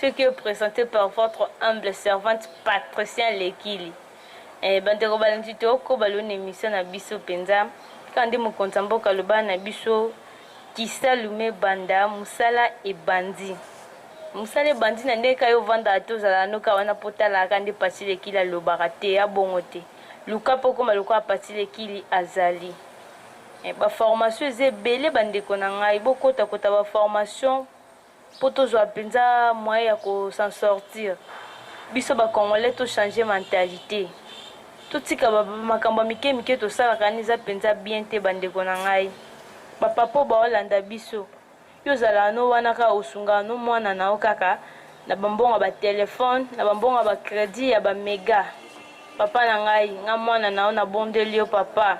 Ce qui est presente par votre humble servante Patricien Lekili. Eh, bandeko balandi toko balona emission na biso mpenza kaka nde mokonzi ya mboka aloba na biso kisalume banda mosala ebandi mosala ebandi na ndenge kayo ovandaka te ozalaka noka wana mpo otalaka nde pasi lekili alobaka te ya bongo te luka mpo okoma lokola pasi lekili azali eh, baformation eza ebele bandeko na ngai bokotakota baformation Po tozua penza moyen ya ko s'en sortir, biso ba congolais to changer mentalite. Totika ba makambo ya mike mike tosalaka wana eza penza bien te ba ndeko na ngai. Ba papa oyo bao landa biso, yo ozalaka n'o wana kaka osungaka n'o mwana na yo kaka na ba mbongo ya ba telephone, na ba mbongo ya ba credit ya ba mega. Papa na ngai, nga mwana na yo na bondeli yo papa.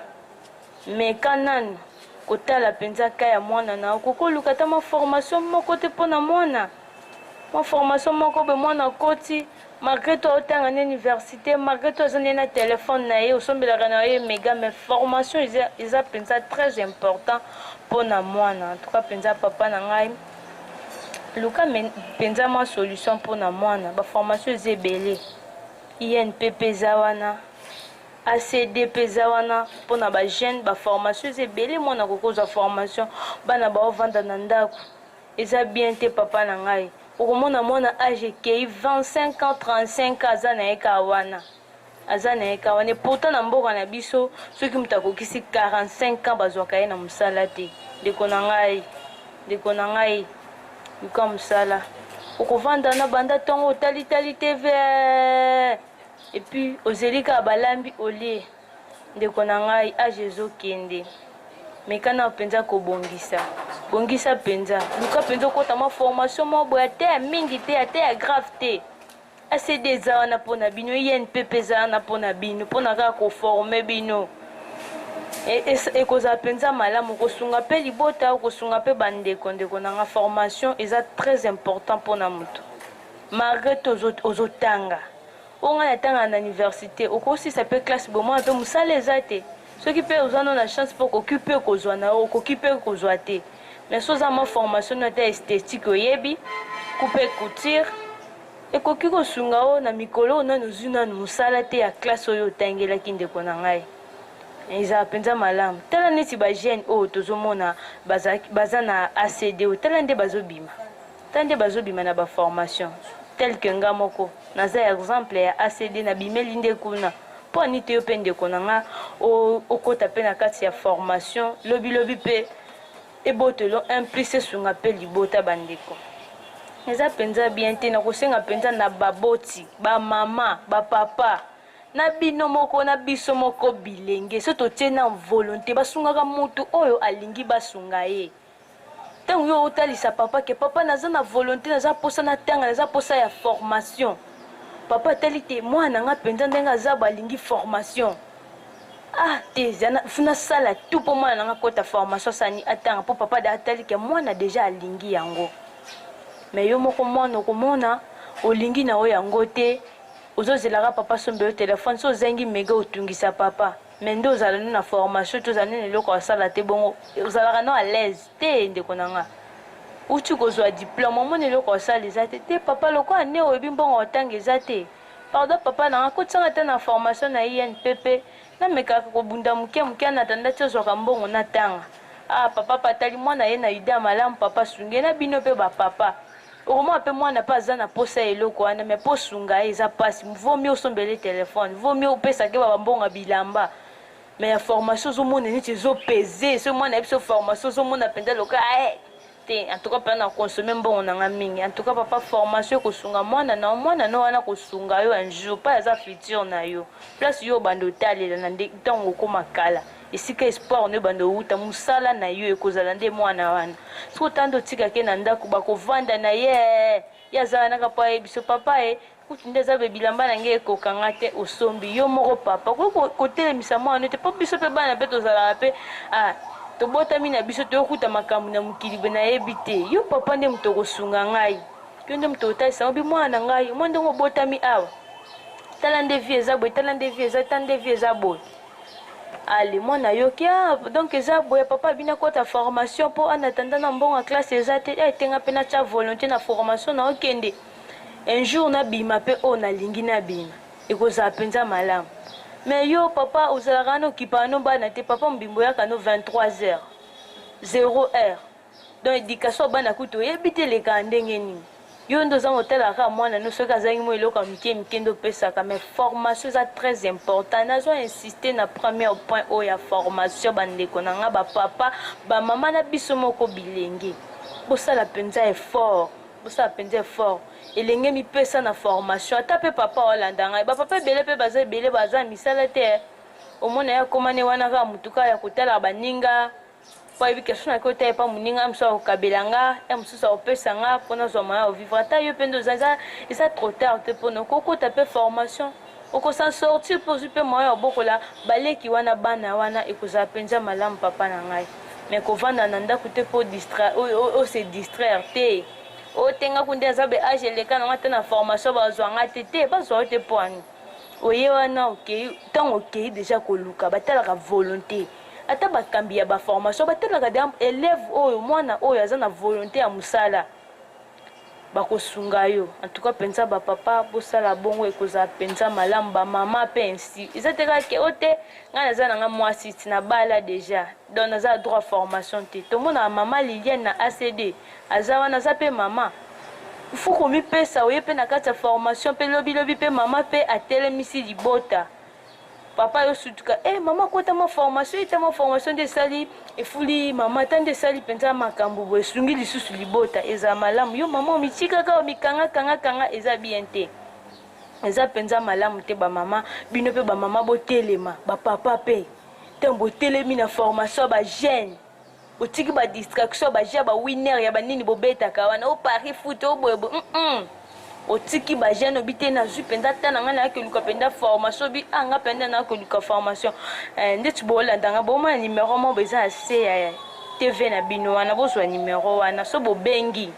Meka nanu kotala penza cas ya mwana na yo, koka oluka ata mwa formation moko te mpo na mwana? Mwa formation moko boye mwana akoti malgre tout aotanga na universite, malgre tout aza nde na telefone na ye, osombelaka na ye mega, mais formation eza, eza mpenza très important mpo na mwana. En tout cas mpenza papa na ngai luka mpenza mwa solution mpo na mwana, baformation eza ebele, INPP eza wana ACDP eza wana pona ba jeune ba formation eza ebele mwana akoki kozwa formation bana baovanda na ndako eza bien te papa na ngai okomona mwana age ekei 25 ans 35 ans aza na ye kaa wana aza na ye kaa wana epourtant na mboka na biso soki moto akokisi 45 ans bazwaka ye na mosala te ndeko na ngai ndeko na ngai luka mosala okovanda na banda ntongo otalitali te vee Et puis ozeli kaka balambi olie ndeko na ngai age ezokende meka nao mpenza kobongisa bongisa mpenza luka mpenza okota mwa formation moko boye ata ya mingi te ata ya grave te acd eza wana mpo na bino inpp e eza wana mpo na bino mpo na kaka koforme bino e, e, ekozala mpenza malamu kosunga mpe libota kosunga mpe bandeko ndeko nanga formation eza très important mpo na moto malgre te ozotanga ozo Oyo ngai natanga na universite okosisa pe classe bomwana pe musala eza te soki pe oza no na chance pe okoki pe kozua na yo okoki pe kozua te mais soki oza mwa formation no ata esthetique oyebi coupe couture ekoki kosunga yo na mikolo oyo nanu ozui nanu musala te ya classe oyo otangelaki ndeko na ngai ezala penza malamu tala neti ba jeune oyo tozomona baza na ACD oyo tala nde bazobima Tala nde bazo bima na ba formation tel que nga moko naza exemple ya ACD na bimeli nde kuna po anite yo pe ndeko na nga okota pe na kati ya formation lobi lobi pe ebotelo un plus esunga pe libota ba ndeko eza penza bien te na kosenga penza na baboti ba mama ba papa na bino moko na biso moko bilenge so totie na volonte basungaka mutu oyo alingi basunga ye ntango yo otalisa papa ke papa naza na volonté naza mposa natanga naza mposa ya formation papa atali te mwana nga mpenza ndenge aza balingi formation ah te nasala tu mpo mwana na nga akota formation asani atanga mpo papa da atali ke mwana deja alingi yango me yo moko mwana okomona olingi na yo yango te ozozelaka papa somba yo telefone so ozangi mega otungisa papa mais nde ozala nde na formation te ozala nde na eloko ya sala te bongo ozalaka no alaise te ndeko na nga uti kozwa diplome omoni eloko ya sala eza te te papa lokola nde oyebi mbongo otanga eza te pardon papa na nga kotisanga ata na formation na inpp namekaka kobunda moke moke anatanda ti ozwaka mbongo natanga ah papa patali mwana ye na yuda malamu papa sunge na bino mpe bapapa Okomona pe mwana pe aza na posa ya eloko wana mais po osunga ye eza pasi vaut mieux osombela ye telephone vaut mieux opesa keba ba mbongo ya bilamba mais ya formation ozomona neti ezo peze soki mwana ayebi so formation ozomona mpenza loka ae eh, te en tout cas mpenza na consommer mbongo na nga mingi en tout cas papa formation ekosunga mwana na mwana no wana kosunga yo un jour mpe aza futur na yo place yo obanda otalela na ntango okoma kala esika espoir no ebanda owuta mosala na yo ekozala nde mwana wana soki otanda otika ke na ndako bakovanda na ye ye azala naka mpo ayebi so papa ye kutu nde eza be bilamba na ngai ekokanga te osombi yo moko papa okoki kotelemisa mwana te mpo biso mpe bana mpe tozalaka mpe ah, tobotami na biso toyokuta makambo na mokili boye nayebi te yo papa nde moto okosunga ngai yo nde moto otalisa yango bi mwana na ngai omwa ndenge obotami awa tala nde vie eza boye tala nde vie eza tala nde vie eza boye Allez mwana yo kia donc eza boye papa bina kota formation po ana tanda na mbongo classe eza te eh tenga pe na tia volonté na formation na okende un jour na bima pe o na lingi na bima ekozala penza malamu mais yo papa ozalaka na okipa no bana te papa mbimbo yaka no 23 heures 0 heure donc education bana kutu oyebi te elekaka ndenge nini yo nde ozangi otalaka kaka mwana no soki azangi mwa eloko ya mike mike nde opesaka mais formation eza très important nazo insiste na première point oyo ya formation bandeko na ngai bapapa bamama na biso moko bilenge bosala mpenza effort bosala mpenza effort elenge mipesa na formation ata mpe papa olanda ngai bapapa ebele mpe baza ebele baza misala te omona ye akomane wana kaka motuka ya kotalaka baninga mpo ayebi question na kota epa moninga ya mosusu akokabela nga ya mosusu akopesa nga mpo nazwa moyen ya ovivre ata yo mpe nde oza eza eza trop tard te mpona okokota mpe formation okosan sortir mpe ozwi mpe moyen ya obokola baleki wana bana wana ekozala mpenza malamu papa na ngai mais kovanda na ndako te mpo ose distraire te otengaku nde aza be age eleka na ngai te na formation bazwa ngai te te bazwa yo te mpo ani oye wana okei ntango okei deja koluka batalaka volonté Ata bakambi ya ba formations batalaka deja elève oyo, mwana oyo aza na volonte ya mosala, bakosunga yo. En tout cas penza ba papa bosala bongo ekozala penza malamu, ba mama pe ainsi. Eza te kaka ke o te ngai naza na ngai mwasi ti nabala deja donc naza na droit ya formation te. Tomonaka mama Liliane na ACD aza wana aza pe mama. Il faut komipesa oye pe na kati ya formation pe lobi lobi pe mama pe atelemisi libota. papa yo sutuka eh mama akota ma formation ete ma formation nde esali efuli mama ata nde esali mpenza makambo boye esungi lisusu libota ezala malamu yo mama omitikaka omikangakangakanga eza bien te eza mpenza malamu te bamama bino mpe bamama botelema bapapa mpe ntango botelemi na formation ya bagene botiki ba distraction ya ba jeu ya ba winner ya ba nini bobetaka wana o paris foot o boye mm -mm. otiki ba jeune obi te nazwi mpenza ata na ngai nayaki oluka mpenza formation obi a ah, ngai mpenza nayaki oluka formation eh, ndeti bolanda ngai bomona nimero moko eza na se ya tv na bino wana bozwa nimero wana so bobengi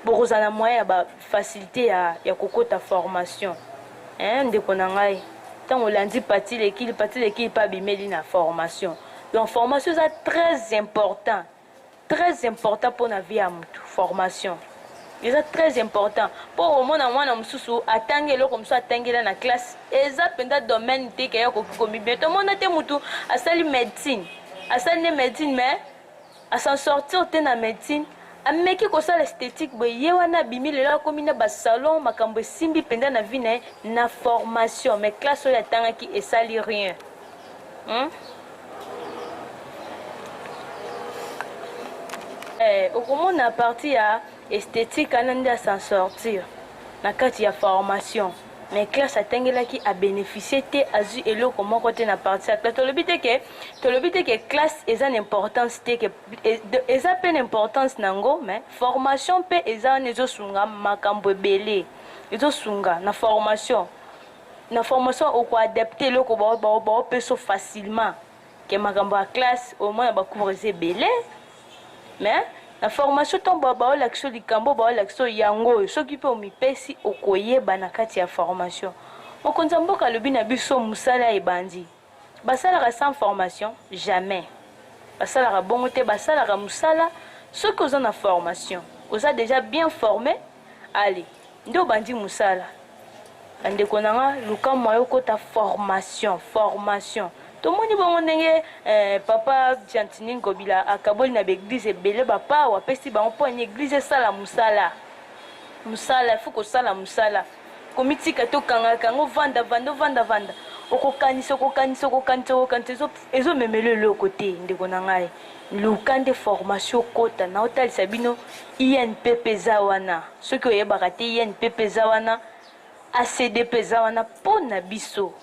bokozala na moyen ya bafacilité ya, ya kokota formation eh, ndeko na ngai ntango olandi pati lekili pati lekili mpe abimeli na formation donc formation eza très important très important mpona vie ya motu formation eza très important mpo omona mwana mosusu atangi eloko mosusu atangela na classe eza mpenza domaine te keya okoki komibia tomona te motu asali médecine asali nde médecine mais A s'en sortir te na medecine, ameki kosala esthetique boye ye wana abimi lelo akomi na ba salon makambo esimbi penza na vie na ye na formation mais classe oyo atangaki esali rien. Hum? Eh, okomona parti ya esthetique ana nde a s'en sortir na kati ya formation. mais classe atangelaki a beneficier te azwi eloko moko te na parti ya classe tolobi te ke tolobi te ke classe eza na importance te ke eza mpe na importance na yango mais formation mpe eza wana ezosunga makambo ebele ezosunga na formation na formation okoadapte eloko baopeso facilement ke makambo ya classe au moins ba cours eza ebele mais na formation ntango baoyo baolakisa yo likambo oyo baolakisa yo yango oyo soki mpe omipesi okoyeba na kati ya formation mokonzi ya mboka alobi na biso mosala ebandi basalaka sans formation jamais basalaka bongo te basalaka mosala soki oza na formation oza déjà bien formé allez Nde obandi musala ba ndeko na nga luka moyen okota formation formation tomoni bongo ndenge eh, papa Gentini Ngobila akaboli na baeglise ebele bapawa apesi bango mpo ani eglise esala mosala mosala ifo kosala mosala komitika te okangaka yango vanda vanda ovanda vanda okokanisa okokanisa okokanisa okokanisa ezomemela eloko te ndeko na ngai luka nde formation okota na otalisa bino inpp eza wana soki oyebaka te inpp eza wana acdp eza wana mpo na biso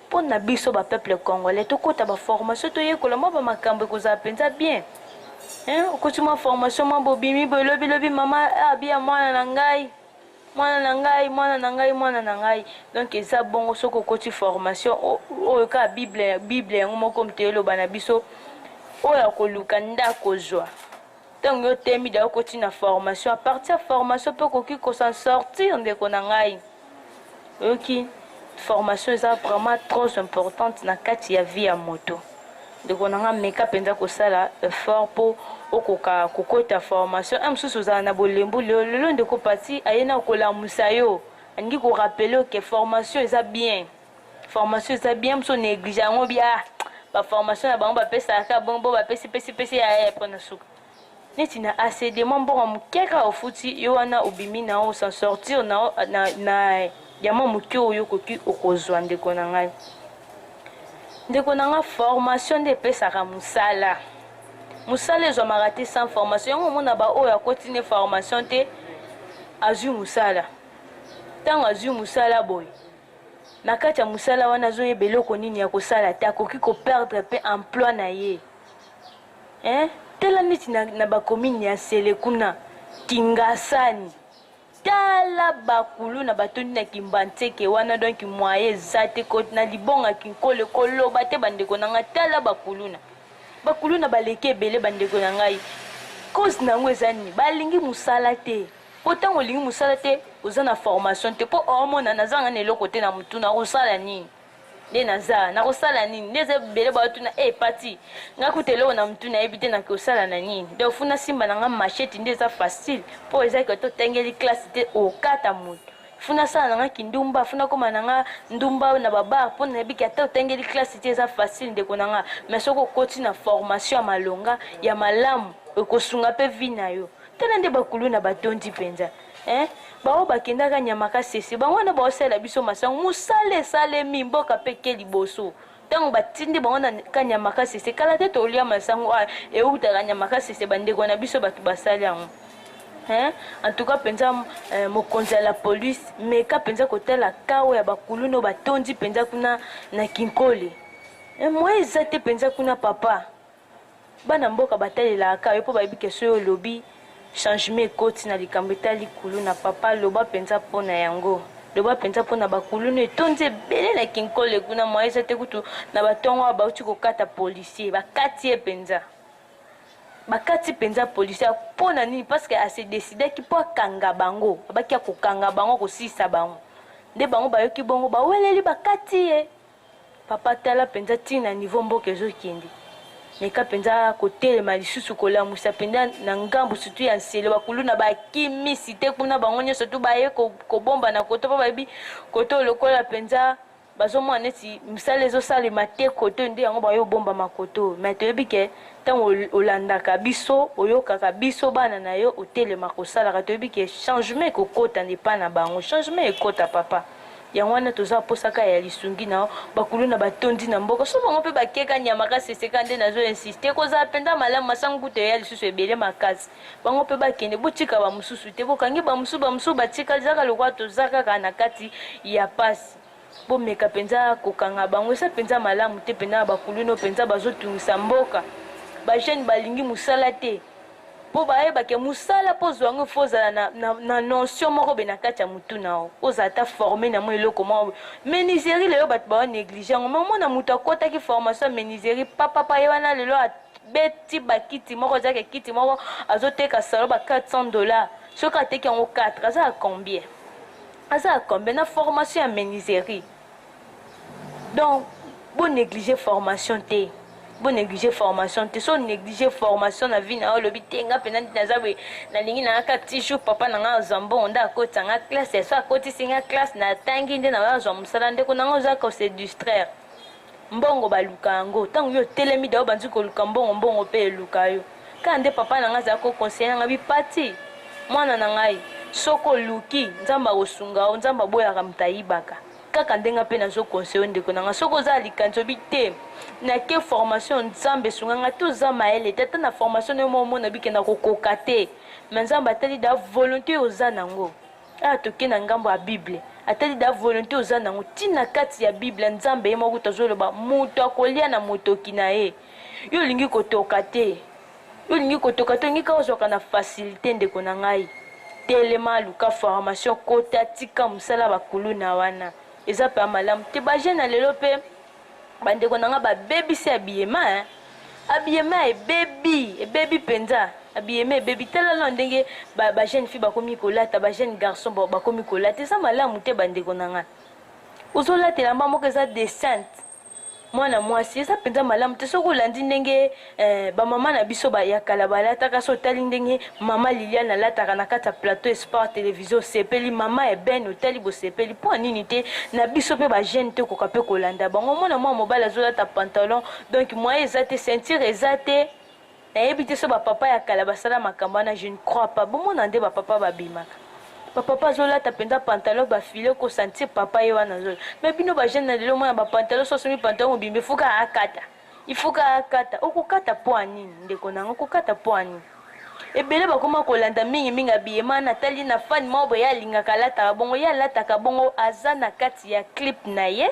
mpo na biso bapeuple congolais tokota baformation toyekola mwa bamakambo ekozala mpenza bien okoti mwa formation mwa bobimi boye lobilobi mama abia ah, mwana na ngai mwana na ngai mwana na ngai mwana na ngai donc eza bongo soki okoti formation oyo kaka bible bible yango moko moto eloba na biso oyo akoluka nde akozwa ntango yo temi da okoti na formation apartir ya formation mpe okoki kosan sortir ndeko na ngai Oyoki formation eza vraiment trop importante na kati ya vie ya moto ndeko na nga meka mpenza kosala effort mpo okoka kokota formation a mosusu ozala na bolembu lelo lelo ndeko pati aye na kolamusa yo alingi korapele oke formation eza bien formation eza bien mosusu onéglige yango bia ah, baformation na bango bapesaka bongo bo bapesi pesi pesi ya mpo na suka neti na ACD mwa mbongo ya moke kaka ofuti yo wana obimi na yo sans sortir na, na, na ya mwa moke oyo okoki okozwa ndeko na ngai ndeko na ngai formation nde epesaka mosala mosala ezwamaka te sans formation yango omona baoyo akoti nde formation te azwi mosala ntango azwi mosala boye na kati ya mosala wana azoyeba eloko nini ya kosala te akoki koperdre mpe emploi na ye eh? tala neti na, na bakomini ya nsele kuna kingasani tala bakulu na batondi na kimbanseke wana donki mwaye eza te na libonga kinkole koloba te bandeko na ngai tala bakuluna bakuluna baleki ebele bandeko na ngai cause na yango eza nini balingi mosala te mpo ntango olingi mosala te oza na formation te mpo omona nazanga na eloko te na motuna osala nini nde naza nakosala nini nde eza ebele baotuna e eh, hey, pati ngai kuta eloko na motu nayebi te nakosala na nini donc fu nasimba na ngai machete nde eza facile mpo eza koto otangeli classe te okata moto fu nasala na ngai kindumba fu nakóma na ngai ndumba na babar mpo nayebi ke ata otangeli classe te eza facile ndeko na ngai mais soki okoti na formation ya malonga ya malamu ekosunga mpe vi na yo tala nde bakulu na batondi mpenza eh? baoyo bakendaka nyamakasese bango wana baosalela biso masango mosala esalemi mboka mpe ke liboso ntango batindi bango na kanyamakasese kala te tolia masango oyo eutaka nyamakasese bandeko na biso bato basali yango Hein? en tout cas mpenza euh, mokonzi ya la police meka mpenza kotala kawo ya bakuluno batondi mpenza kuna na kinkole eh, moye eza te mpenza kuna papa Bana mboka batalelaka yo po bayebi ke soki olobi changement ekoti na likambo etali kuluna papa loba penza po na yango loba penza po na ba kuluna etondi ebele na kinkole kuna moyen eza te kutu na ba tongo awa bawuti kokata policier bakati ye penza bakati penza policier po na nini parce que a se decidaki po akanga bango abaki ya kokanga bango kosilisa bango nde bango bayoki bongo baweleli bakati ye Papa tala mpenza ti na niveau mboka ezokende. Meka mpenza kotelema lisusu kolamusa mpenza na ngambo sutu ya nsele bakuluna bakimisi te kuna bango nyonso tu baye kobomba na koto mpo bayebi koto lokola mpenza bazomona neti mosala ezosalema te koto nde yango baye obomba makoto mai toyebi ke ntango olandaka biso oyokaka biso bana na yo otelema kosalaka toyebi ke changement ekokota nde epai na bango changement ekota papa Yango wana toza posa ka ya lisungi na yo bakuluna batondi na mboka so bango mpe bakeka nyama ka seseka nde nazo insiste ekozala mpenza malamu masango kutu eya lisusu ebele makasi bango mpe bakende botika bamosusu te bokangi bamosusu bamosusu batikali zaka lokola toza kaka na kati ya pasi bomeka mpenza kokanga bango eza mpenza malamu te mpenza na bakuluna mpenza bazotungisa mboka bajeune balingi mosala te Po bayeba ke musala po ozua yango il faut ozala na, na, na notion moko be na kati ya mutu na yo, ozala ata forme na mwa eloko moko boye. Menuiserie lelo batu bazo negliger yango, mais omona mutu akotaki formation ya menuiserie pa pa pa ye wana lelo a beti ba kiti moko eza ke kiti moko azo teka salon ba 400 dollars, soki ateki yango 4 aza ya combien? Aza ya combien na formation ya menuiserie? donc bo négliger formation te bo négliger formation te so négliger formation na vie na yo olobi te nga mpenza naza boye nalingi nanga kaka ti jour papa na nga azwa mbongo nde akotisa nga classe so akotisi nga classe natangi nde naoyo azwa mosala ndeko na nga oza kose distraire mbongo baluka yango ntango yo otelemi dao banzi koluka mbongo mbongo mpe eluka yo kaka nde papa na nga azala kokonseye na nga bipati mwana na ngai soko oluki nzambe akosunga yo nzambe aboyaka moto ayibaka kaka ndenge mpe nazo conseille ndeko na nga soki oza likanisi obi te nake formation nzambe esunga nga to za mayele te ata na formation nayo omona bikenda kokoka te me nzambe atali da volonté oyo oza nango awa ah, toke na ngambo ya bible atali da volonté oza nango ntina kati ya bible nzambe ye moko kuta azoloba moto akolia na motoki na ye yo olingi kotoka te Yo olingi kotoka tongi kaka ozwaka na facilite ndeko na ngai telema luka formation kota tika musala ba kuluna wana eza pa malamu te ba jeune ya lelo pe ba ndeko na ngai ba bebisi ya biyema hein abiyema ebebi ebebi mpenza abiyema ebebi tala lona ndenge bajeune fille bakomi kolata bajeune garçon bakomi kolata eza malamu te bandeko na ngai ozolata elamba moko eza decente mwana mwasi eza mpenza malamu te soki olandi ndenge eh, bamama na biso ya kala balataka so otali ndenge mama liliane alataka na kati ya plateau esport televizio osepeli mama ebene otali bosepeli mpo ya nini te na biso mpe bagene te okoka mpe kolanda bango omona mwana mobali azolata pantalon donk moye eza te ceinture eza te nayebi te so ba papa ya kala basala makambo wana je ne crois pas bomona nde ba papa babimaka ba papa azolata mpenza pantalon bafile kosantir papa ye wana azola me bino bajeune na lelo mwana bapantalon so asomi pantalon mobimba efuka akata ifuka akata okokata mpo ya nini ndeko na yango okokata mpo ya nini ebele bakoma kolanda mingi mingi abiyema natali na fani moko boye alingaka alataka bongo ye alataka bongo aza na kati ya clip na ye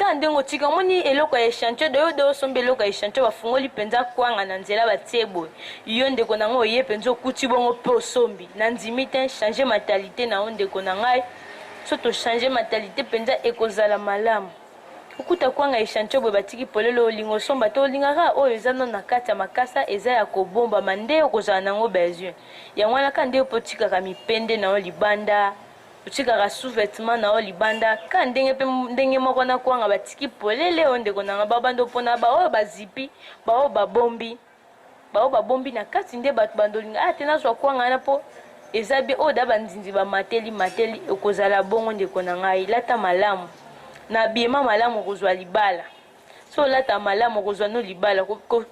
kaka ndenge otika omoni eloko ya echantio de yo de osombi eloko ya echantio bafungoli mpenza kwanga na nzela batie boye yo ndeko na ngai oye mpenza okuti bongo mpe osombi na ndimi te change mentalite na yo ndeko na ngai so tochange mentalite mpenza ekozala malamu okuta kwanga echantio boye batiki polele olinga osomba te olingaka oyo eza nano na kati ya makasa eza ya kobombama nde okozala na yango besoin yango wana kaka nde yo mpe otikaka mipende na yo libanda otikaka sous vetement na yo libanda ka ndenge mpe ndenge moko na kwanga batiki polele oyo ndeko na nga babanda opona baoyo bazipi baoyo babombi baoyo babombi na kati nde bato bandolinga aya ah, te nazwa kwanga wana mpo eza bie oyo da bandindi bamateli mateli okozala bongo ndeko na ngai lata malamu na biema malamu okozwa libala so olata malamu okozwa no libala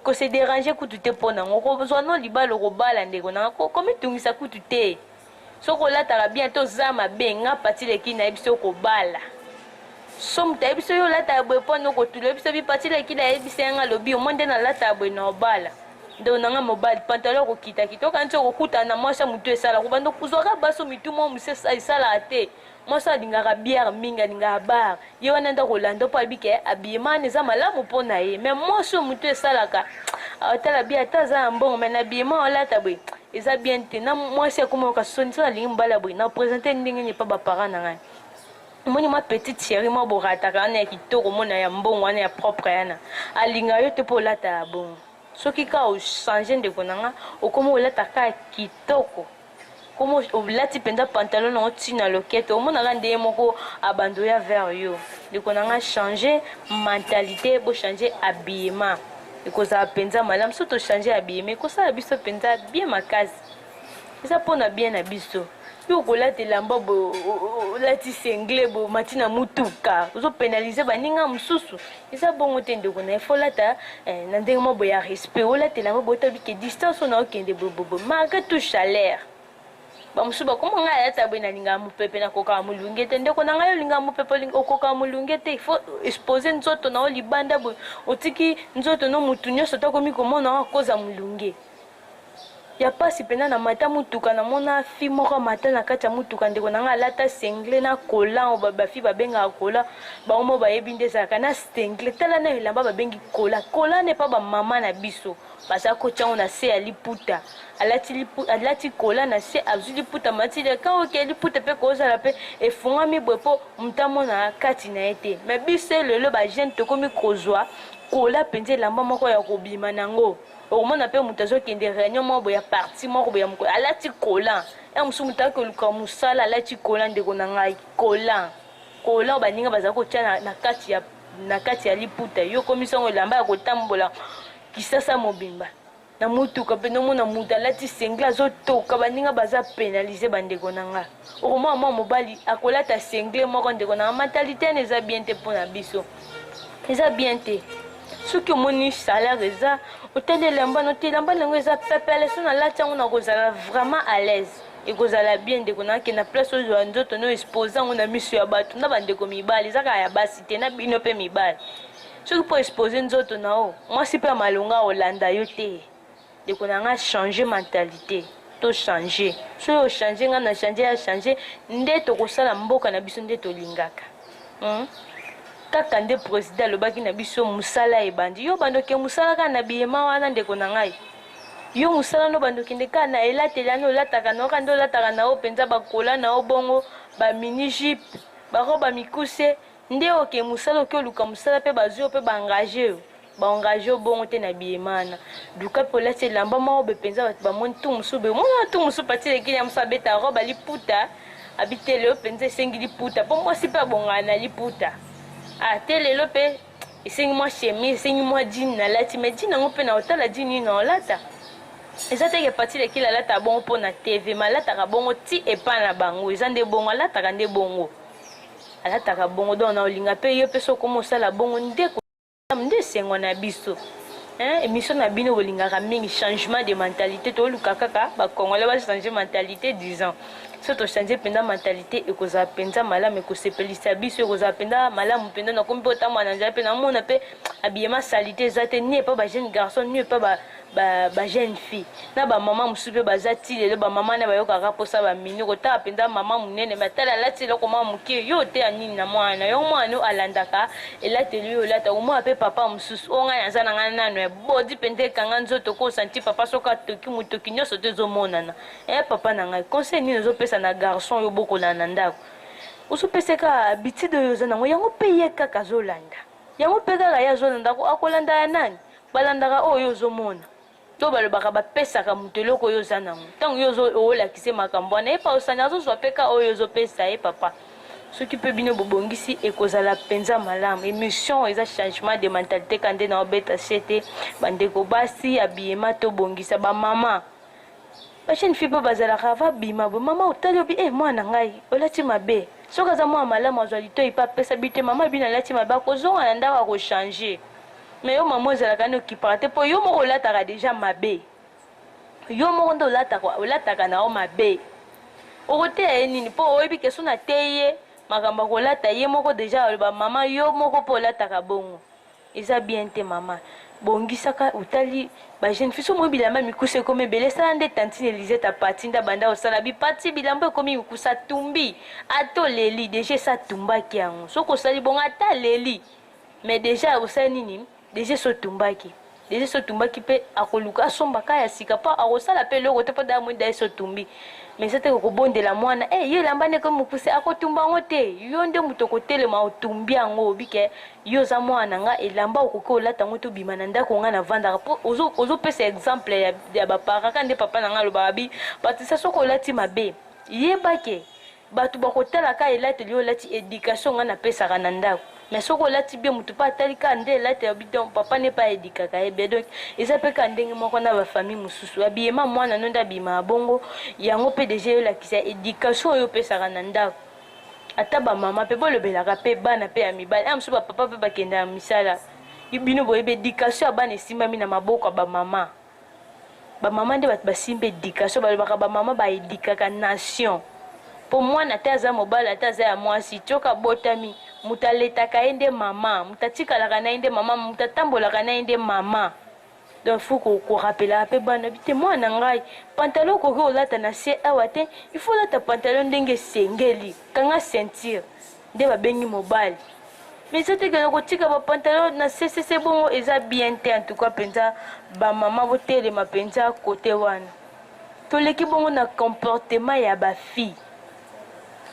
kose derange kutu te mpo nango okozwa no libala okobala ndeko nanga komitungisa kutu te soki olataka bien te oza mabe nga pati leki nayebi so okobala so moto ayebi so yo olataka boye mpo na okotula yebi so bi pati leki nayebi se yanga lobi omoi nde nalataka boye na obala ndeko nanga mobali pantalo okokitakita okanisi okokutana na mwasi ya motu esalaka obanda kozwaka baso mitu mwa mosesa esalaka te mwasi alingaka bière mingi alingaka bar ye wana nde akolanda mpo ayebi ke abiyema wana eza malamu mpo na ye me mwasi oyo motu esalaka atala bi ata aza na mbongo me na biyema olata boye eza bien te na mwasi akoma yoka soni soki alingi mobali ya boye na presente ndenge nini epa baparent na ngai omoni mwa petite chérie mwa borataka wana ya kitoko mona ya mbongo wana ya propre yana alinga yo te mpo olata ya bongo soki kaka ochange ndeko na nga okomi olata kaka kitoko komo olati mpenza pantalon nango ti na loketo omonaka nde ye moko abando ya vers yo ndeko na ngai change mentalité bochange habillement ekozala mpenza malamu so tochange habillement ekosala biso mpenza bien makasi eza mpo na bien na biso yo okolata elamba boye olati sengle boye omati na motuka ozopenalize baninga mosusu eza bongo te ndeko na ye fo olata eh, na ndenge moko boye ya respect olatela yango boye otabi ke distance oyo naokende bobobo malgré tout chaleur bamosusu bakoma ngai alata boye nalingaka mopepe nakokaka molunge te ndeko na ngai olingaka mopepe okokaka molunge te ifo expose nzoto na yo libanda boye otiki nzoto no motu nyonso tokomi komona yango akoza molunge ya pasi mpenza na mata motuka na mona fi moko amata na kati ya motuka ndeko na ngai alata sengle na kola oyo bafi babengaka kola bango moko bayebi nde ezalaka na sengle tala na elamba babengi kola kola ne mpa bamama na biso baza kotya yango na se ya liputa alati kola na se azwi liputa mati leka oke liputa mpe kozala mpe efungwami boye mpo moto amona kati na ye te me biso lelo bajeune tokomi kozwa kola mpenza elamba moko ya kobima na yango okomona mpe moto azokende réunion moko boye ya parti moko boye ya mokolo alati kolan ya mosusu moto ayaki koluka mosala alati kolan ndeko na ngai kolan kolan oyo baninga bazali kotya na, na, kati ya, na kati ya liputa yo okomisi yango elamba ya kotambola kisasa mobimba na motuka mpe nomona moto alati sengle azotoka baninga baza penalize bandeko na ngai okomona mwa mobali akolata sengle moko ndeko na mentalité wana eza bien te mpo na biso eza bien te soki omoni salaire eza otandi elamba no te elamba nango eza pepele so nalati yango nakozala vraiment à l'aise ekozala bien ndeko nakenda place ozwa nzoto no expose yango na miso ya bato na bandeko mibali eza kaka ya basi te na bino mpe mibali soki mpo expose nzoto na yo mwasi mpe ya malonga akolanda yo te Ndeko na nga changer mentalite to changer soki o changer nga na changer ya changer nde tokosala mboka na biso nde tolingaka hmm? kaka nde president alobaki na biso mosala ebandi yo bando ke mosala kaka na biyema wana ndeko na ngai yo mosala no bando kende kaka na elateli ana olataka na yo kaka nde olataka na yo mpenza bakola na yo bongo bamini jipe baroba mikuse nde oke mosala oke oluka mosala mpe bazwi yo mpe baengage yo ba engage yo bongo te na biemana duka mpe olati elamba moko be mpenza bato bamoni tu mosusu be omona tu mosusu pati lekini ya mosusu abeta robe aliputa abite lelo mpenza esengi liputa mpo mwasi mpe abongana na liputa ah te lelo mpe esengi mwa chemise esengi mwa jine nalati mai jine yango mpe na otala jine nini naolata eza teke pati lekili alataka bongo mpo na tv ma alataka bongo ti epai na bango eza nde bongo alataka nde bongo alataka bongo donc na olinga mpe yo mpe sokoma osala bongo nde malamu nde esengo na biso hein, émission na bino bolingaka mingi changement de mentalité toluka kaka bakongolais bachange mentalité disant so tochange mpenza mentalité ekozala mpenza malamu ekosepelisa biso ekozala mpenza malamu mpenza nakomi mpe otambola na nzela mpe namona mpe abiyema salite eza te ni epa bajeune garçon ni epa ba, ba jeune fille na ba mama mosusu mpe baza ti lelo ba mama na bayokaka mposa ba mini kotala mpenza mama monene matala alati eloko mwa moke yo oteya nini na mwana na yo mwana yo alandaka elateli yo olata omona mpe papa mosusu oyo ngai naza na ngai nano ya bodi mpenza ekanga nzoto ko santi papa soki atoki motoki nyonso to ezomonana e papa na ngai conseil nini ozopesa na garçon yo bokolana na ndako ozopesa kaka bitide oyo oza nango yango mpe ye kaka azolanda yango mpe kaka ye azolanda akolanda ya nani Balandaka oyo yo ozomona to balobaka bapesaka moto eloko oyo oza nango ntango yo ozolakise makambo wana ye pausani azozwa mpe ka oyo ozopesa ye papa soki mpe bino bobongisi ekozala mpenza malamu emission eza changement de mentalité ka nde naobeta sete bandeko basi abiyema tobongisa bamama bajeune fille mpe bazalaka babima bo mama otali obi e eh, mwana ngai olati mabe soki aza mwana malamu azwa litoi mpe apesa bite mama bino alati mabe akozonga na ndako akochange Mais yo maman ozalaka ni occupant te po yo moko olataka deja mabe. Yo moko nde olataka olataka na yo mabe. Okoteya ye nini po oyebi ke so na teyi ye makambo ya kolata ye moko deja aloba maman yo moko pe olataka bongo. Eza bien te maman. Bongisaka otali ba jeune fille so omoni bilamba mikuse ekomi ebele sala nde tantine Elisette apati nde abanda kosala bi pati bilamba ekomi mikuse atumbi ata oleli deja esi atumbaki yango soki osali bongo ata aleli mais deja akosala nini deja esi otumbaki deja esi otumbaki mpe akoluka asomba ka ya sika mpo akosala mpe eloko te mpo daa moi da esi otumbi mais eza te kokobondela mwana e eh, yo elamba nde ekomi mokuse akotumba yango te yo nde moto okotelema otumbi yango obike yo oza mwana na nga elamba okoki olata yango te obima na ndako ngai navandaka mpo ozopesa exemple ya, ya baparaka nde papa na ngai alobaka bi batisa soki olati mabe yebake Batu bakotala ka elateli oyo olati education nga napesaka na ndako mais soki olati bien motu mpe atali ka nde elate ya bidon papa ne pa edikaka ye bien donc eza mpe ka ndenge moko na bafamille mosusu abiyema mwana no nde abiyemaka bongo yango mpe deja eyolakisa education oyo opesaka na ndako ata bamama mpe bolobelaka mpe bana mpe ya mibali ya mosusu bapapa mpe bakendaka misala bino boyebi education ya bana esimbami na maboko ya bamama Ba maman nde bato basimba education balobaka ba maman ba edukaka nation po mwana ata aza mobali ata aza ya mwasi coka abotami moto aletaka ye nde mama moto atikalaka na ye nde mama moto atambolaka na ye nde mama donc faut korapelaka mpe bana bi te mwana na ngai pantalon okoki kolata na se awa te il faut olata pantalon ndenge esengeli kanga ceinture nde babengi mobali mais eza te kaka kotika bapantalon na sesese bongo eza bien te antuka mpenza bamama botelema mpenza kote wana toleki bongo na comportement ya bafille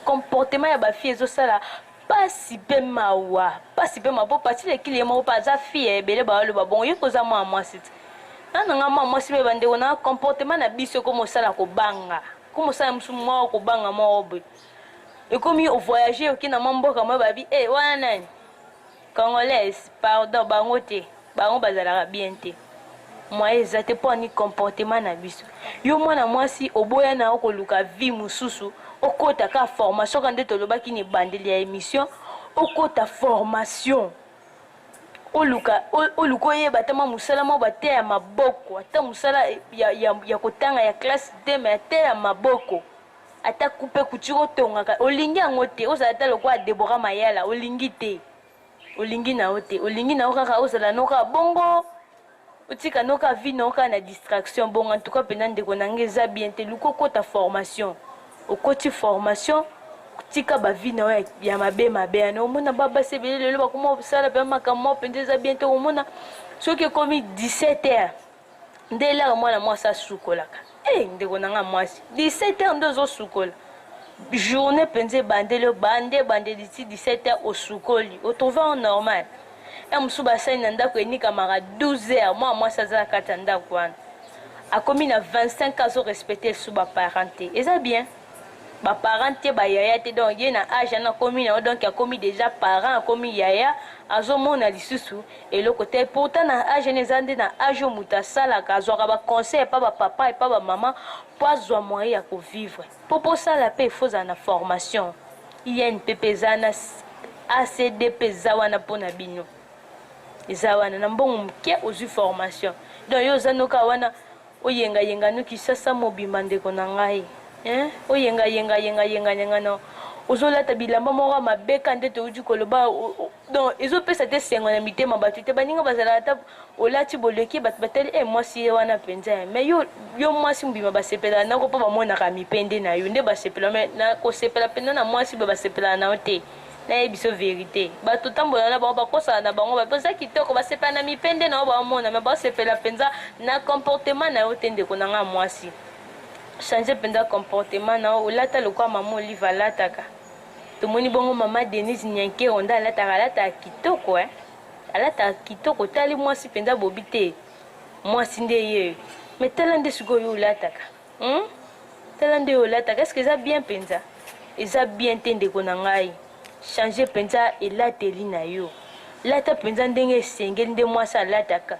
comportement ya bafille ezosala pasi mpe mawa pasi mpe mawa mpo pati lekili ye moko mpe aza fille ya ebele baoloba bongo yo mpe oza mwana mwasi te na nanga mwana mwasi mpe bandeko na comportement na biso ekomosala kobanga komosala mosu moko kobanga moko boye ekomi o voyage oke na mwa mboka moye babi e wana nani congolaise pardon bango te bango bazalaka bien te moye eza te mpo ani comportement na biso yo mwana mwasi oboya na yo koluka vie mosusu okota ka formation ka nde tolobaki na ebandeli ya émission okota formation oluka oluka oyeba ata mwa mosala mwa bate ya maboko ata mosala ya, ya, ya kotanga ya classe te me ate ya maboko Ata coupe couture otongaka olingi yango te, ozala ata lokola Deborah Mayala olingi te, olingi na yo te, olingi na yo kaka ozala no kaka bongo, otika no kaka vie na yo kaka na distraction bongo. En tout cas mpenza ndeko na ngai eza bien te, luka okota formation, okoti formation tika ba vie na yo ya mabe mabe yana omona ba basi ebele lelo bakoma kosala mpenza makambo moko mpenza eza bien te omona soki ekomi 17 heures nde elaka mwana mwasi asukolaka e eh, ndeko na nga mwasi 17 heure nde ozosukola journée mpenza ebandeli obande ebandeli ti 17 heure osukoli otrouve en normal ya mosusu basali na ndako enikamaka 12 heure mwana mwasi aza na kati ya ndako wana akomi na 25 ans azorespecte esu baparent te eza bien ba parents te ba yaya te donc ye na age wana akomi na yo donc akomi dejà parent akomi yaya azo mona lisusu eloko te pourtant na age wana eza nde na age oyo moto asalaka azwaka ba conseil epa ba papa epa ba mama po azwa moyen ya ko vivre po posala pe faut ozala na formation inpp eza na acdp eza wana po na bino eza wana na mbongo moke ozwi formation donc yo oza noka wana Oyenga yenga no kisasa mobimba ndeko na ngai eeh Oyenga yenga yenga yenga yenga no Ozo lata bilamba moko ya mabe ka nde towuti koloba Donc ezo pesa ata esengo na mitema batu te Baninga bazalaka ata olati boleki batu batali eh mwasi ye wana penza eh Mais yo yo mwasi mobimba basepelaka nako po bamonaka mipende nayo nde basepela mais na kosepela penza na mwasi boye basepelaka nayo te naye biso verite bato otambola na bango bakosana na bango bape oza kitoko basepela na mipende na yo baomona me basepela mpenza na comportement na yo te ndeko na ngai mwasi change mpenza comportement na yo olata lokola mama olive alataka tomoni bongo mama denise nyankero nde alataka alataka kitoko eh? alataka kitoko otali mwasi mpenza bobi te mwasi nde yeyo me tala nde sikoyo yo olataka Hum? Tala nde olataka, est-ce que eza bien penza? Eza bien te ndeko na ngai. Changer penza elateli na yo. Lata penza ndenge esengeli nde mwasi alataka.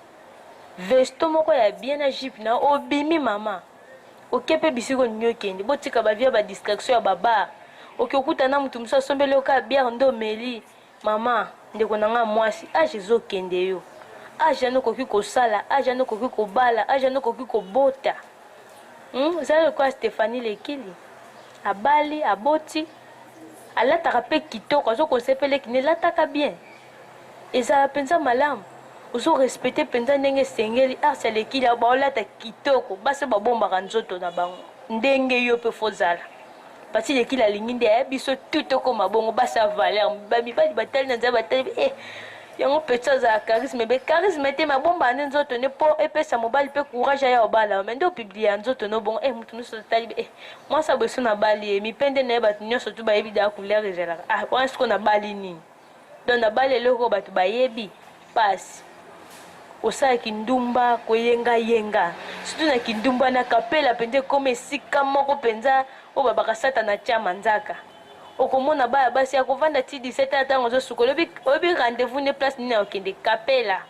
Vesto moko ya bien na jupe na obimi mama. Oke pe bisiko nini okende? Botika ba vie ba distraction ya ba bar. Oke okuta na mutu mususu asombeli yo ka bière nde omeli. Mama, ndeko na nga mwasi, age ezo kende yo. Age wana okoki kosala, age wana okoki kobala, age wana okoki kobota. Hmm? Zala lokola Stephanie Lekili. Abali, aboti, alataka pe kitoko, azo konsepele kine, lataka bien. Ezala penza malamu. ozo respecte mpenza ndenge esengeli arsi alekili baolata kitoko basi babombaka nzoto na bango ndenge yo mpe fozala pati lekile alingi nde eh, biso tu tokoma bongo basi ya valeur bamibali batali na nzela batali eh, yango petit azala charisme be charisme te mabomba nde nzoto nde mpo epesa mobali mpe courage aya obala me nde opiblia nzoto no bongo e eh, moto nyonso totali e eh, mwasi aboso nabali ye eh, mipende na ye bato nyonso tu bayebi daa couleur ezalaka ah wana siko nabali nini donc nabali eloko oyo bato bayebi pasi osala kindumba koyengayenga surtout na kindumba na kapela mpenza ekoma esika moko mpenza oyo babaka satana atya manzaka okomona baya basi ya kovanda ti 17 ntango ozosuka oyebi rendez-vous nde place nini akokende kapela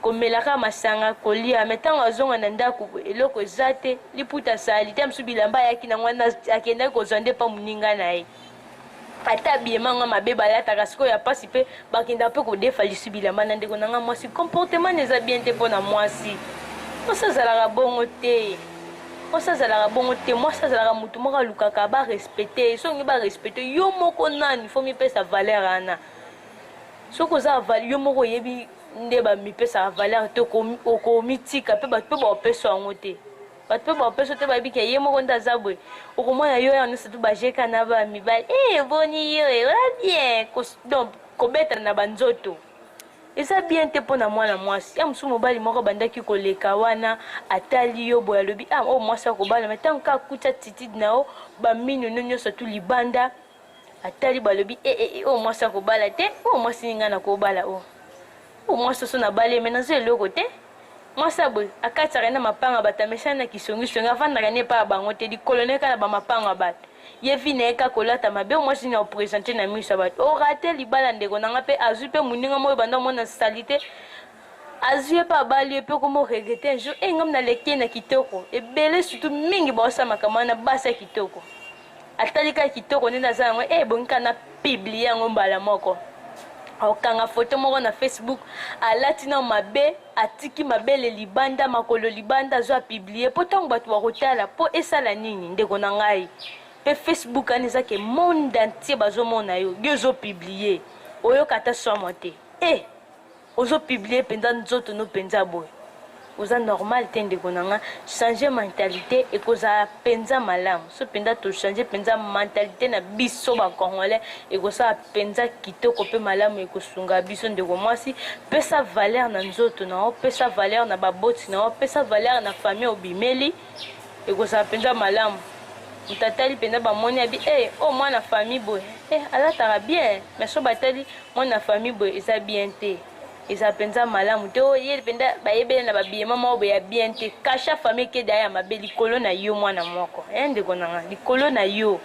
komela kaka masanga kolia me ntango azonga na ndako eloko eza te liputa asali te mosusu bilamba ayaki na wana akendaki kozwa nde mpa moninga na ye ata abiema nga mabe balataka sikoyo ya mpasi mpe bakendaka mpe kodefa lisu bilamba na ndeko na nga mwasi comportement na eza bien te mpo na mwasi mwasi azalaka bongo te mwasi azalaka bongo te mwasi azalaka motu moko alukaka barespecte ye soki olingi barespecte yo moko nani fo mipesa valeur ana soki oza avali yo moko oyebi nde bamipesaka valeur te okomitika mpe bato mpe baopesa yango te bato mpe baopesa te bayebi ke ye moko nde aza boye okomona yo ya nyonso tu bajeka na bamibali e eh, boni yo eh, oza bien donc kobetana na banzoto eza bien te mpo na mwana mwasi ya mosusu mobali moko abandaki koleka wana atali yo boye alobi a ah, oyo oh, mwasi akobala ma ntango kaka kutya titide na yo bamino no nyonso tu libanda atali balobi e, e, e, oyo mwasi akobala te oyo mwasi ninga nakobala oyo oyo mwasi oso nabali me nazo eloko te mwasi ya boye akatisaka na mapanga bato amesani na kisongisongi afandaka ne epai ya bango te likolo na ye kaka na bamapanga ya bato ye vi na ye kaka kolata mabe mwasi nini apresente na miso ya bato orate libala ndeko na nga mpe azwi mpe moninga moko ebanda omona salite azwi ye mpe abali ye mpe okoma oregrete un jour e ngam naleki ye na kitoko ebele surtout mingi baosala makambo wana basi ya kitoko Atali kaka kitoko nde naza yango e ebongi kaka na publie yango mbala moko. Akokanga foto moko na Facebook, alati na mabe, atiki mabele libanda, makolo libanda, azwa publie mpo ntango bato bakotala, mpo esala nini ndeko na ngai? Mpe Facebook ani eza ke monde entier bazomona yo, yo ozopublie, oyoka ata somo te e eh! Ozo publie penza nzoto no penza boye oza normal te ndeko na nga changer mentalite ekozala penza malamu so penza to changer penza mentalite na biso ba congolais ekosala penza kitoko pe malamu ekosunga biso ndeko mwasi pesa valeur na nzoto na yo pesa valeur na baboti na yo pesa valeur na famille obimeli ekozala mpenza malamu moto atali mpenza bamoni abi e eh, oyo oh, mwana famille boye e eh, alataka bien mais so batali mwana famille boye eza bien te eza mpenza malamu te oyo oh, ye mpenza bayebele na babiyema moko boye ya bien te kasha famille keda ya mabe likolo na yo mwana moko e eh, ndeko nanga likolo na yo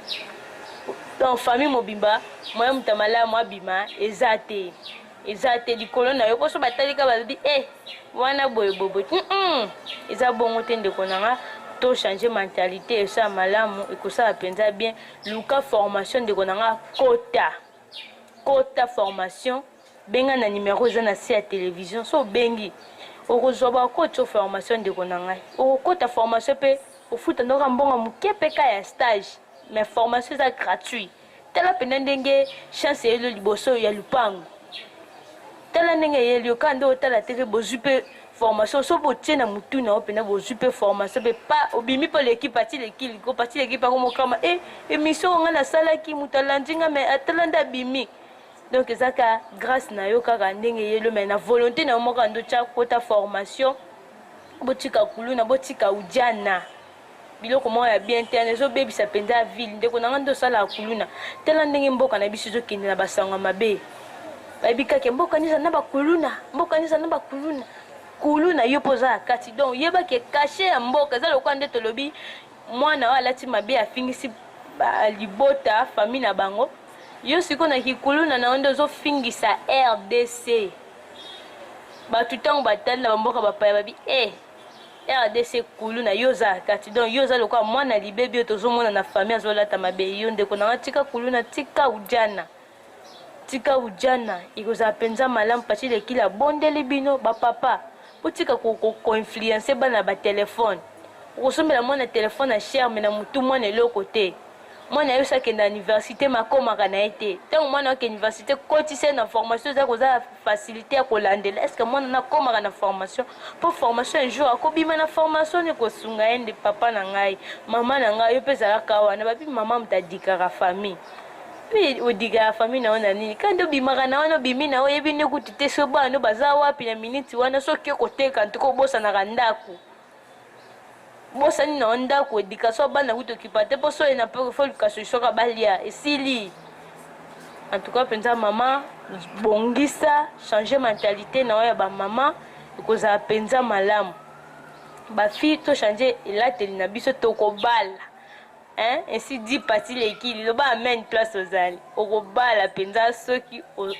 donc famille mobimba moya moto ya malamu abima eza te eza te likolo na yo poso batalika balobi e eh, wana boye boboye mm -mm. eza bongo te ndeko na nga to changer mentalité esala malamu ekosala mpenza bien luka formation ndeko na nga kota kota formation benga na nimero eza na se ya televizio so obengi okozwa bakoti o formation ndeko na ngai okokota formation mpe ofuta ndoka mbongo moke mpe ka ya stage mais formation eza gratuit Tala mpenza ndenge chance eyeli yo liboso ya lupangu. Tala ndenge eyeli yo kaka nde otala te mpe bozwi mpe formation so botie na motu na yo mpenza bozwi mpe formation mpe pa obimi mpe oleki pati leki liko pati leki mpe akomokama e eh, emission oyo ngai nasalaki moto alandi ngai mai atala nde abimi donc eza ka grâce na yo kaka ndenge eyeli mai na volonté na yo moko ando tya kota formation botika kuluna botika ujana biloko moko ya bien te wana ezobebisa mpenza ville ndeko na ngai nde osalaka kuluna tala ndenge mboka na biso ezokende na basango ya mabe bayebi kaka mboka neza na bakuluna mboka neza na bakuluna kuluna yo mpo oza na kati donc yebaki kashe ya mboka eza lokola nde tolobi mwana oyo alati mabe afingisi libota famille na bango yo sikoyo na kikuluna na yo nde ozofingisa rdc bato ntango batali na bamboka bapaya babi e eh, rdc kulu na yo oza kati donc yo oza lokola mwana libebi oyo tozomona na famille azolata mabe yo ndeko na nga tika kulu na tika ujana tika ujana ekozala mpenza malamu pati lekila abondeli bino bapapa botika koinfluence ko, ko bana batelefone okosombela mwana telefone ya sherme na motu mwana eloko te mwana yo sakenda université makomaka na ye te ntango mwana yoke université kotisa ye na formation eza koza facilité ya kolandela estce mwana na akomaka na formation mpo formation un jour akobima na formation ni kosunga ye nde papa na ngai mama na ngai yo mpe ezalaka wana babi mama moto adikaka famille mpe odikaka famille na yo na nini kandi obimaka na wana obimi na yo oyebi nde kutu te so bana no baza wapi na miniti wana soki okoteka ntuka obosanaka ndako bosani na ndako education ya bana kutu okipa te mpo soye na poko fo luka solution kaka balia esili en tout cas mpenza mama bongisa change mentalité na yo ya bamama ekozala mpenza malamu bafille tochange elateli na biso tokobala Hein? Ainsi dit Pati Lekili, loba amen place ozali. Okobala penza soki o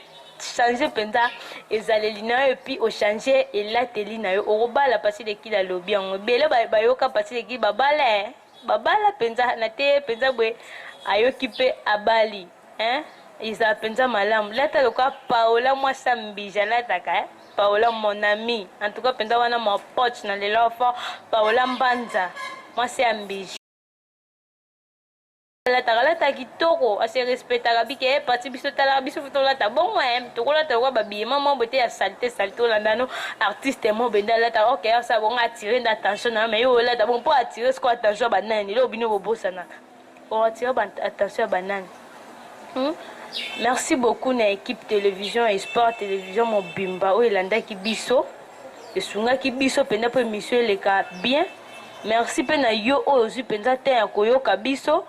changer penza ezaleli na yo epuis ochanger elateli na yo okobala Pati Lekili alobi yango ebele bayoka Pati Lekili babala eh? babala penza na te penza boye ayoki mpe abali hein? ezala penza malamu lata lokola paola mwasi ya mbija alataka eh? paola mon ami en tout cas penza wana mwa poche na lelo fort paola mbanza mwasi ya mbija alataka alata kitoko ase respectaka bike e eh, pati biso talaka biso fo tolata bongo e eh, tokolata lokola babiyema mobo te ya salite salite olanda no artiste mobo ende alata ok asa bongo atire nde attention na yo mai yo olata bongo mpo atire siko attention ya banani leo bino bobosanaka oatire attention ya banani hmm? merci beaucoup na équipe télévision et sport télévision mobimba oyo elandaki biso esungaki biso mpenza mpo émission eleka bien Merci pe na yo oyo ozwi mpenza temps ya koyoka biso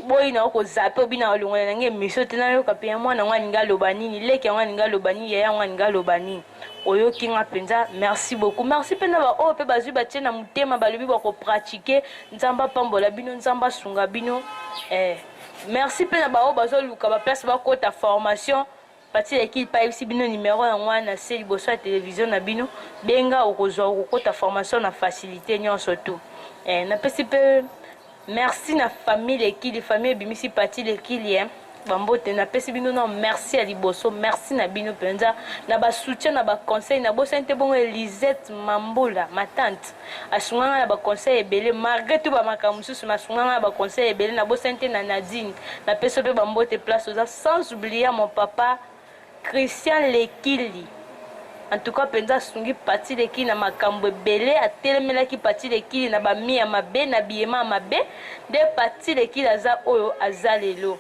boyi na yo kozape obi na olongola na ngai emission te nayoka mpe ya mwana yango alingi aloba nini leki yango alingi aloba nini yaya yango alingi aloba nini oyoki nga mpenza merci beaucoup merci mpe na baoyo mpe bazwi batie na motema balobi bakopratike nzambe apambola bino nzambe asunga bino eh. merci mpe na baoyo bazoluka baplace bakota formation Pathy ya equipe ayebisi bino numero yango wana na se liboso ya television na bino, benga okozwa okokota formation na facilite nyonso tu. Eh, napesi mpe merci na famille Lekili, famille ebimisi Pathy Lekili eh. bambote napesi bino na merci ya liboso merci na bino mpenza na basoutien na baconseil nabosani te bongo elisette mambula matante asunga ngai na baconseil ebele malgré tout bamakambo mosusu mais asunga ngai na baconseil ebele nabosani te na nadine napesi mpe bambote place oza sans oublia mon papa christian lekili en tout cas mpenza asungi pati lekili na makambo ebele atelemelaki pati lekili na bamia mabe na biyema mabe nde pati lekili aza oyo aza lelo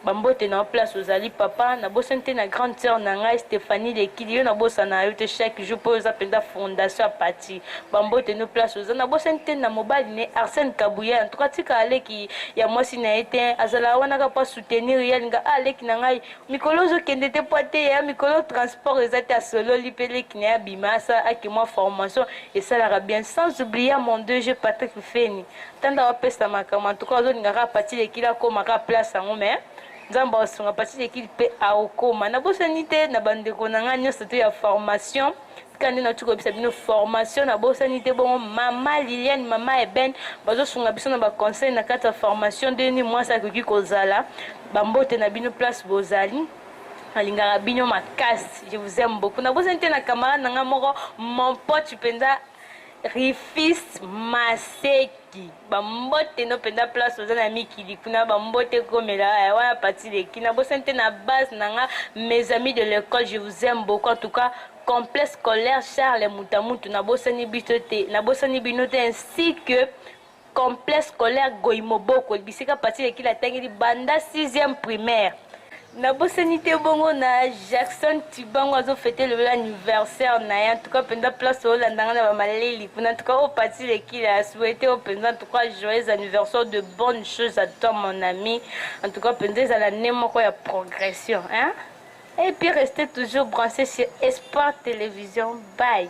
Ba mbote na yo place ozali papa, na bosani te na grande sœur na ngai Stephanie Lekidi, yo na bosana yo te chaque jour po yo oza penza fondation ya parti. Ba mbote no place oza, na bosani te na mobali ne Arsène Kabuya, en tout cas atikaka leki ya mwasi na ye te, azalaka wana kaka po a soutenir ye, alinga ah leki na ngai mikolo ozo kende te po ateya ya mikolo transport eza te, asololi pe leki na ye abima asala ake mwa formation esalaka bien, sans oublier ya mon DG Patrick Feni. tanda bapesa makambo antuka ozolinga kaka pati lekili akoma kaka place yango me nzambe aosunga pati lekili mpe aokoma nabosani te na bandeko na ngai nyonso to ya formation tika nde nauti koyebisa bino formation nabosani te bongo mama liliane mama eben bazosunga biso na baconseil na kati ya formation nde nini mwasi akoki kozala bambote na bino place bozali nalingaka bino makasi je vous aime beaucoup nabosani te na camarade na ngai moko mon pote mpenza Rifist Maseki bambote no mpenza place oza na mikili kuna bambote komela eh, wana pati leki na bosani te na base na nga mes amis de l'école je vous aime beaucoup en tout cas complexe scolaire charles mutamutu na bosani biso te na bosani bino te ainsi que Complexe scolaire Goimoboko, bisika Paty Lekila atangeli banda 6e primaire. Nabosani te bongo na Jackson Tibango azo fete lelo anniversaire na ye. En tout cas penza place oyo landa nga na ba maleli kuna. En tout cas o Paty Lekila a souhaiter o penza en tout cas joyeux anniversaire de bonnes choses à toi mon ami. En tout cas penza ezala ne moko ya progression hein. Et puis restez toujours branchés sur Espoir Télévision. Bye.